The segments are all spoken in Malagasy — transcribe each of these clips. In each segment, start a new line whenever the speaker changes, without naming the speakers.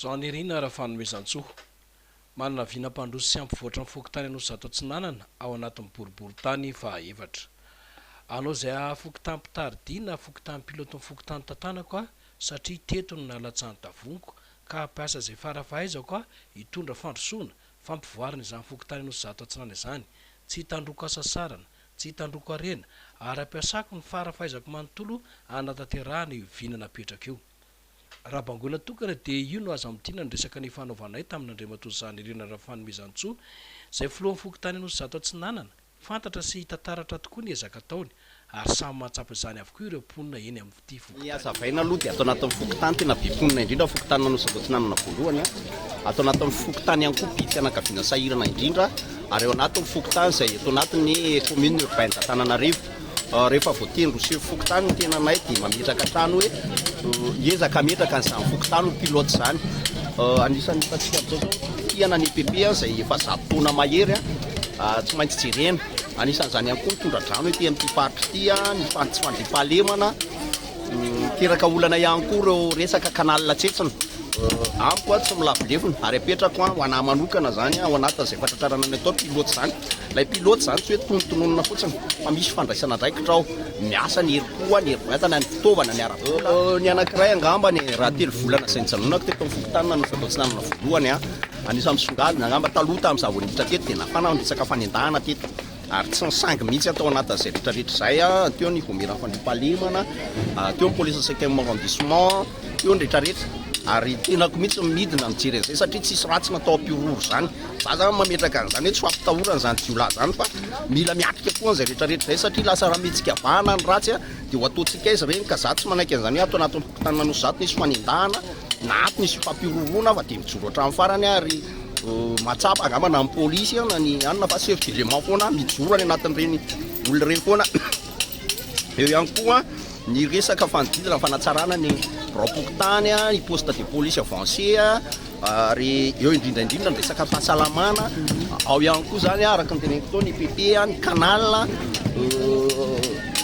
Jeanirina Rafanomezantsoa, manana vina mpandroso sy hampivoatra ny fokontany Anosizato Atsinanana ao anatin'ny boriborintany fahaefatra. Anao izay haha fokontany Mpitari-dia na fokontany Pilote ny fokontany tantanako aho satria teto no nalatsahany tavoniko ka hampiasa izay fara fahaizako aho hitondra fandrosoana, fampivoarana izany fokontany Anosizato Atsinanana izany. Tsy hitandroko hasasarana, tsy hitandroko harena ary hampiasako ny fara fahaizako manontolo hanatanterahana io vina napetrako io. Raha bangoina tokana dia io no aza amintiana ny resaka nifanaovanay tamin'Andriamatoa Zanirina Rafanomezantsoa, izay filohan'ny fokontany Anosizato Atsinanana. Fantatra sy hita taratra tokoa ny ezaka ataony ary samy mahatsapa izany avokoa ireo mponina eny amin'ity Ny fokontany hazavaina ity. aloha dia ato
anatin'ny fokontany tena be mponina indrindra ny fokontany Anosizato Atsinanana voalohany, ato anatin'ny fokontany ihany koa mpifianakaviana sahirana indrindra ary ao anatin'ny fokontany izay ato anatin'ny commune urbaine d'Antananarivo. Rehefa voatery miseho fokontany ny tenanay dia mametraka hatrany hoe hiezaka hametraka an'izany fokontany ho pilote izany. Anisan'ny hitantsika amin'izao izao fitokiana ny EPP izay efa zato taona mahery tsy maintsy jerena. Anisan'izany ihany koa ny tondra-drano ety amin'ity faritra ity, ny tsy fandriampahalemana. Miteraka olana ihany koa ireo resaka canal tsentsina. Amiko tsy milavolevona ary apetrako ho anahy manokana izany ao anatin'izay fatratrarana ny atao pilote izany. Ilay pilote izany tsy hoe tonontononina fotsiny fa misy fandraisana andraikitra ao. Miasa ny herim-po, ny herim-batana, ny fitaovana, ny ara-bola. Ny anankiray angamba ny raha telo volana izay nijanonako teto amin'ny fokontany nanao fiato-tsy nanana voalohany aho. Anisan'ny misongadina angamba taloha tamin'izaho vao niditra teto dia nafana ny resaka fanendahana teto. ary tsy nisangy mihitsy tao anatin'izay retraretra izay, teo ny voamieran'ny fandriampahalemana, teo ny police cinquième arrondissement, teo ny retraretra, ary tenako mihitsy ny midina mijery an'izay satria tsisy ratsy natao am-piororo izany, za zany mametraka an'izany hoe tsy ho ampitahorana izany jiolahy izany fa mila miatrika koa an'izay retraretra izay satria lasa raha mihetsikavahana ny ratsy dia ho ataontsika aiza ireny ka za tsy manaiky an'izany hoe ato anatin'ny fokontany Manosy za ato nisy fanendahana na ato nisy fampiororona fa dia mijoro hatramin'ny farany ary Mahatsapa angamba na ny polisy eo na ny anona fa chef du logement foana mijoro any anatin'ireny olona ireny foana. Eo ihany koa ny resaka fanodidina ny fanatsarana ny biraom-pokontany, ny poste de police avancé ary eo indrindra indrindra ny resaka fahasalamana. Ao ihany koa izany araka ny teneniko teo ny PP, ny canal.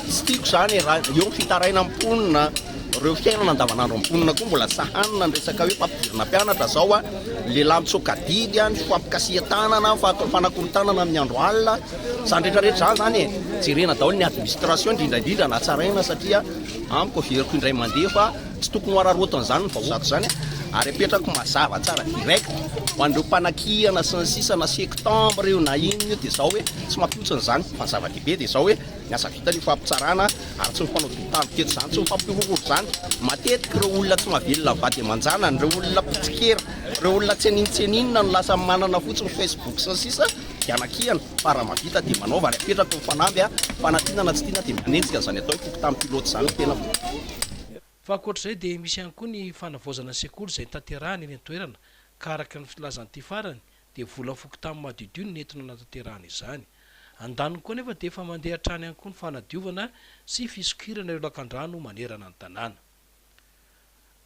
Tsy tiako izany raha eo ny fitarainan'ny mponina. Ireo fiainana andavanandro amin'ny mponina koa mbola tsy hanina ny resaka hoe fampidirana mpianatra izao a, lehilahy mitsoaka adidy a, ny fampikasihan-tanana, fanakorontanana amin'ny andro alina, izany rehetra rehetra izany izany e, jerena daholo ny administration indrindra indrindra no hatsaraina satria amiko averiko indray mandeha fa tsy tokony ho hararaotina izany ny vahoaka izany ary apetrako mazava tsara direct ho an'ireo mpanakihana sy ny sisa na sectembre io na inona io dia izao hoe tsy mampihotsina izany fa ny zava-dehibe dia izao hoe Ny asa vitany io fampitsarana ary tsy mifanao dia mitandro tetsy izany, tsy mifampihorohoro izany. Matetika ireo olona tsy mahavelona ny vady aman-janany, ireo olona mpitsikera, ireo olona tsy anintseninina no lasa manana fotsiny Facebook sy ny sisa dia anakiana fa raha mahavita dia manaova ary apetraka ho fanamby a! Fa na tiana na tsy tiana dia manenjika an'izany atao hoe fokontany pilote izany ny tenako.
Fa ankoatra izay dia misy ihany koa ny fanavaozana ny sekoly izay tanterahana eny an-toerana ka araka ny filazan'ity farany dia vola fokontany madiodio no nentina nanatanterahana izany. Andaniny koa anefa dia efa mandeha hatrany ihany koa ny fanadiovana sy fisokirana ireo lakandrano manerana ny tanàna.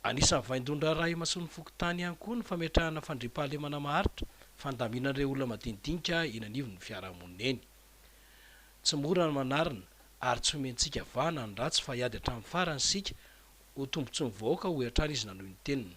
Anisan'ny vaindohan-draharaha imasoan'ny fokontany ihany koa ny fametrahana fandriampahalemana maharitra fandaminana ireo olona madinidinika eny anivon'ny fiarahamonina eny. Tsy mora ny manarina ary tsy homentsika vahana ny ratsy fa hiady hatramin'ny farany isika ho tombontsoan'ny vahoaka hoy hatrany izy nanohy ny teniny.